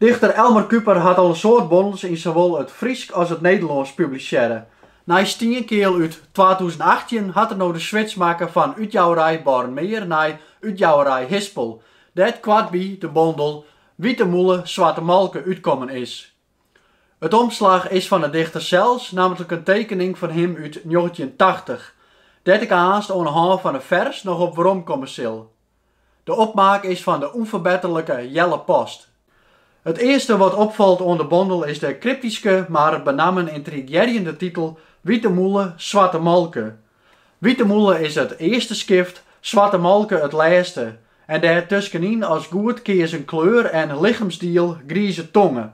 Dichter Elmar Kuiper hat al in soad bondels yn sawol it Frysk as it Nederlânsk publisearre. Nei Stienkeal út twatûzen achttjin hat er no de switch makke fan útjouwerij Bornmeer nei útjouwerij Hispel, dêr't koartby de bondel Wite mûle, swarte molke útkommen is. It omslach is fan 'e dichter sels, nammentlik in tekening fan him út njoggentjintachtich, dêr't ik aanst oan 'e hân fan in fers noch op weromkomme sil. De opmaak is fan de ûnferbetterlike Jelle Post. It earste wat opfalt oan de bondel is de kryptyske mar benammen yntrigearjende titel Wite mûle, swarte molke, Wite mûle is it earste skift, swarte molke it lêste en dêr tuskenyn as goed keazen kleur en lichemsdiel grize tonge.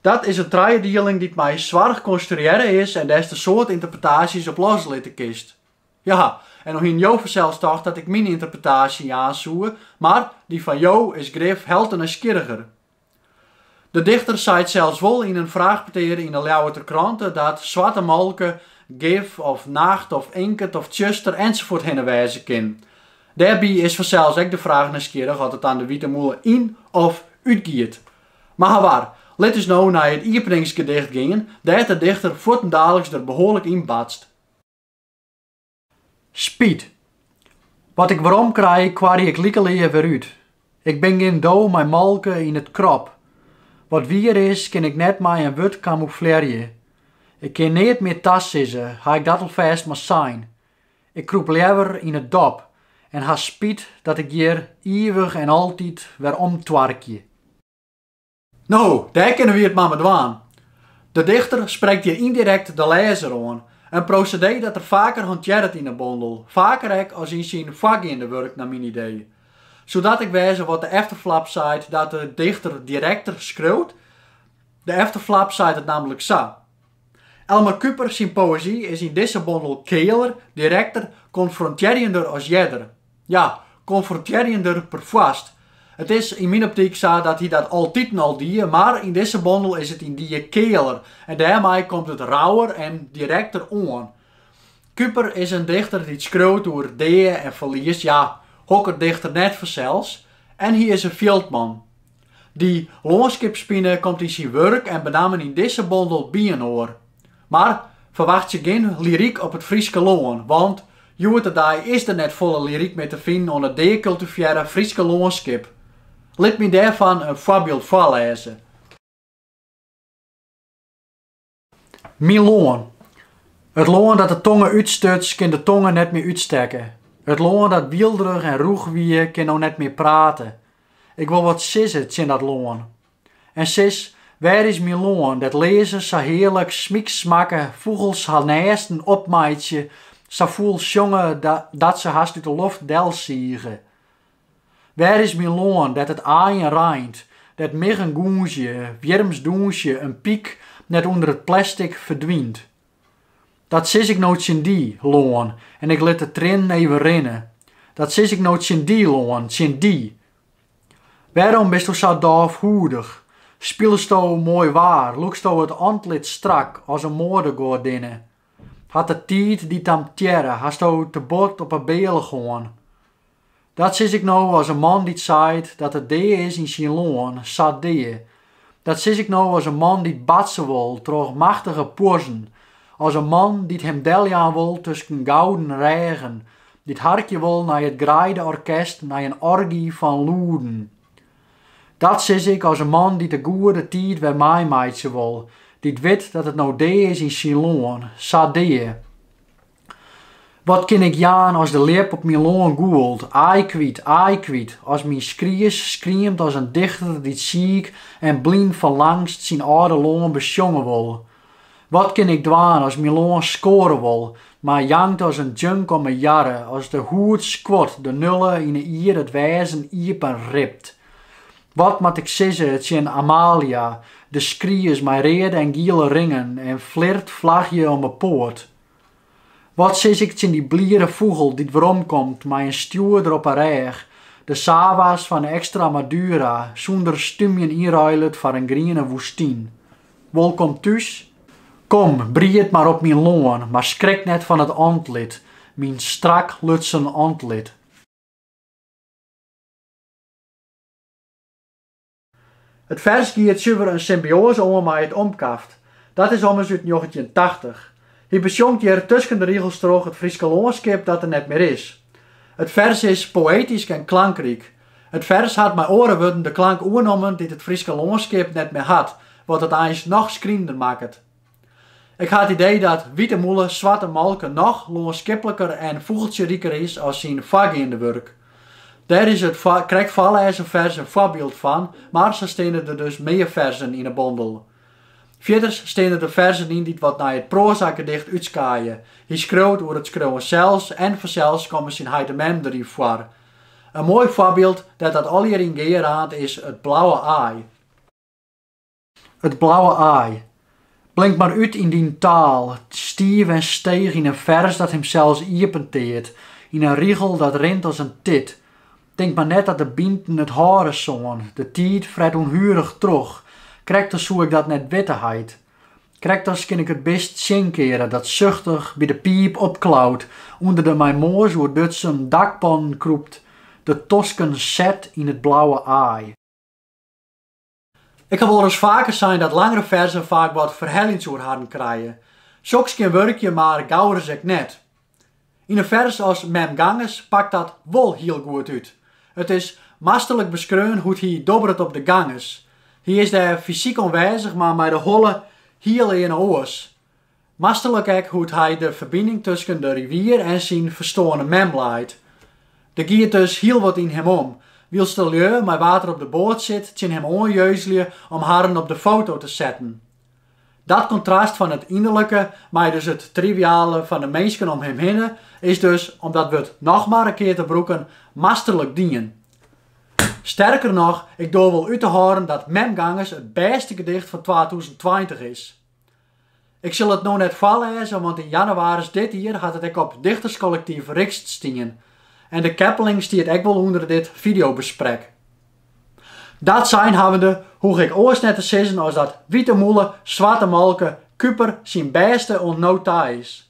Dat is in trijedieling dy't mei soarch konstruearre is en dêr'tst in soad ynterpretaasjes op loslitte kinst. Ja, en no hienen jo fansels tocht dat ik myn ynterpretaasje jaan soe, mar dy fan jo is grif helte nijsgjirriger. De dichter seit sels wol yn in fraachpetear yn 'e Ljouwerter Krante dat swarte molke gif of nacht of inkert of tsjuster ensafuort hinne wêze kin. Dêrby is fansels ek de fraach nijsgjirrich oft it dan de wite mûle yn of útgiet. Mar hawar, lit ús no nei it iepeningsgedicht gean, dêr't de dichter fuortendaliks der behoarlik yn batst. Spyt. Wat ik werom krij, koarje ik likelear wer út. Ik bin gjin do mei molke yn it krop. Wat wier is, kin ik net mei in wurd kamoeflearje. Ik kin neat mear tasizze, ha ik dat alfêst mar sein. Ik krûp leaver yn it dop en ha spyt dat ik hjir ivich en altyd wer omtoarkje. No, dêr kinne wy it mar mei dwaan. De dichter sprekt hjir yndirekt de lêzer oan, in prosedee dat er faker hantearret yn 'e bondel, faker ek as yn syn foargeande wurk nei myn idee. Soe dat ek wêze wat de efterflap seit dat de dichter direkter skriuwt, de efterflap seit it nammentlik sa. Elmar Kuiper syn poëzy is yn dizze bondel kealer, direkter, konfrontearjender as earder. Ja, konfrontearjender perfoarst. It is yn myn optyk sa dat hy dat altiten al die, mar yn dizze bondel is it yndied kealer en dêrmei komt it rauwer en direkter oan. Kuiper is in dichter dy't skriuwt oer dea en ferlies, ja, hokker dichter net fansels? En hy is in fjildman. Dy lânskipspine komt yn syn wurk en benammen yn dizze bondel byinoar. Mar ferwachtsje gjin lyryk op it Fryske lân, want hjoed-de-dei is der net folle lyryk mear te finen oan it deakultivearre Fryske lânskip. Lit my dêrfan in foarbyld foarlêze. Myn lân. It lân dat de tonge útstuts, kin de tonge net mear útstekke. It lân dat wielderich en rûch wie, kin no net mear prate. Ik wol wat sizze tsjin dat lân. En sis, wêr is myn lân, dêr't learzen sa hearlik smyksmakke, fûgels har nêsten opmeitsje, sa fûl sjonge dat se hast út de loft delsige? Wêr is myn lân, dêr't it aaien reint, dêr't miggen gûnzje, wjirms dûnsje, in pyk net ûnder it plestik ferdwynt? Dat sis ik no tsjin dy, lân, en ik lit de triennen even rinne, dat sis ik no tsjin dy, lân, tsjin dy! Wêrom bisto sa dôfhûdich? Spilesto moai waar, lûksto it antlit strak as in moadegoadinne, Hat de tiid dy tamtearre, hasto te bot op 'e bealch hân. Dat sis ik no as in man dy't seit dat it dea is yn syn lân, sa dea. Dat sis ik no as in man dy't batse wol troch machtige puozzen, as in man dy't him deljaan wol tusken gouden rêgen, dy't harkje wol nei it greide-orkest, nei in orgy fan lûden. Dat sis ik as in man dy't de goede tiid wer meimeitsje wol, dy't wit dat it no dea is yn syn lân, sa dea. Wat kin ik jaan as de ljip op myn lân gûlt, aai kwyt, aai kwyt, as myn skries skriemt as in dichter dy't siik en blyn fan langst syn âlde lân besjonge wol, Wat kin ik dwaan as myn lân skoare wol, mar jankt as in junk om 'e jarre, as de hûd skuort, de nulle yn 'e ierd it wêzen iepen ript? Wat moat ik sizze tsjin Amalia, de skries mei reade en giele ringen en flirtflachje om 'e poat? Wat sis ik tsjin dy bliere fûgel dy't weromkomt mei in stjoerder op 'e rêch, de sawa's fan Extremadura sûnder stûmjen ynruilet foar in griene woestyn? Wolkom thús! Kom, bried mar op myn lân, mar skrik net fan it antlit, myn strak lutsen antlit. It fers giet suver in symbioaze oan mei it omkaft. Dat is ommers út njoggentjintachtich. Hy besjongt hjir tusken de rigels troch it Fryske lânskip dat der net mear is. It fers is poëtysk en klankryk. It fers hat mei oare wurden de klank oernommen dy't it Fryske lânskip net mear hat, wat it eins noch skrienender makket. Ik ha it idee dat Wite Mûle Swarte Molke noch lânskipliker en fûgeltsjeriker is as syn foargeande wurk. Dêr is it krekt foarlêzen fers in foarbyld fan, mar sa steane der dus mear ferzen yn 'e bondel. Fierders steane der ferzen yn dy't wat nei it proazagedicht útskaaie. Hy skriuwt oer it skriuwen sels en fansels komme syn heit en mem der yn foar. In moai foarbyld dêr't dat allegear yn gearraant is it blauwe aai. It blauwe aai. Blink mar út yn dyn taal, stiif en steech yn in fers dat himsels iepenteart, yn in rigel dat rint as in tit. Tink mar net dat de bynten it hâlde soene, de tiid fret ûnhuerich troch, krekt as soe ik dat net witte heit. Krekt as kin ik it bist tsjinkeare dat suchtich by de piip opklaut, ûnder de mei moas oerdutsen dakpannen krûpt, de tosken set yn it blauwe aai. Ik ha wolris faker sein dat langere ferzen faak wat ferheljends oer harren krije. Soks kin wurkje, mar gauris ek net. Yn in fers as Mem Ganges pakt dat wol hiel goed út. It is masterlik beskreaun hoe't hy dobberet op de Ganges. Hy is dêr fysyk oanwêzich, mar mei de holle hiel earne oars. Masterlik ek hoe't hy de ferbining tusken de rivier en syn ferstoarne mem leit. Der giet dus hiel wat yn him om, wylst de lju mei wa't er op de boat sit tsjin him oan jeuzlje om harren op de foto te setten. Dat kontrast fan it ynderlike mei dus it triviale fan de minsken om him hinne is dus, om dat wurd noch mar in kear te brûken, masterlik dien. Sterker noch, ik doar wol út te hâlden dat Mem Ganges it bêste gedicht fan twatûzen tweintich is. Ik sil it no net foarlêze, want yn jannewaris dit jier hat it ek op dichterskollektyf Rixt stien. En de keppeling stiet ek wol ûnder dit fideobesprek. Dat sein hawwende, hoech ik oars net te sizzen as dat Wite Mûle, Swarte Molke, Kuiper syn bêste oant no ta is.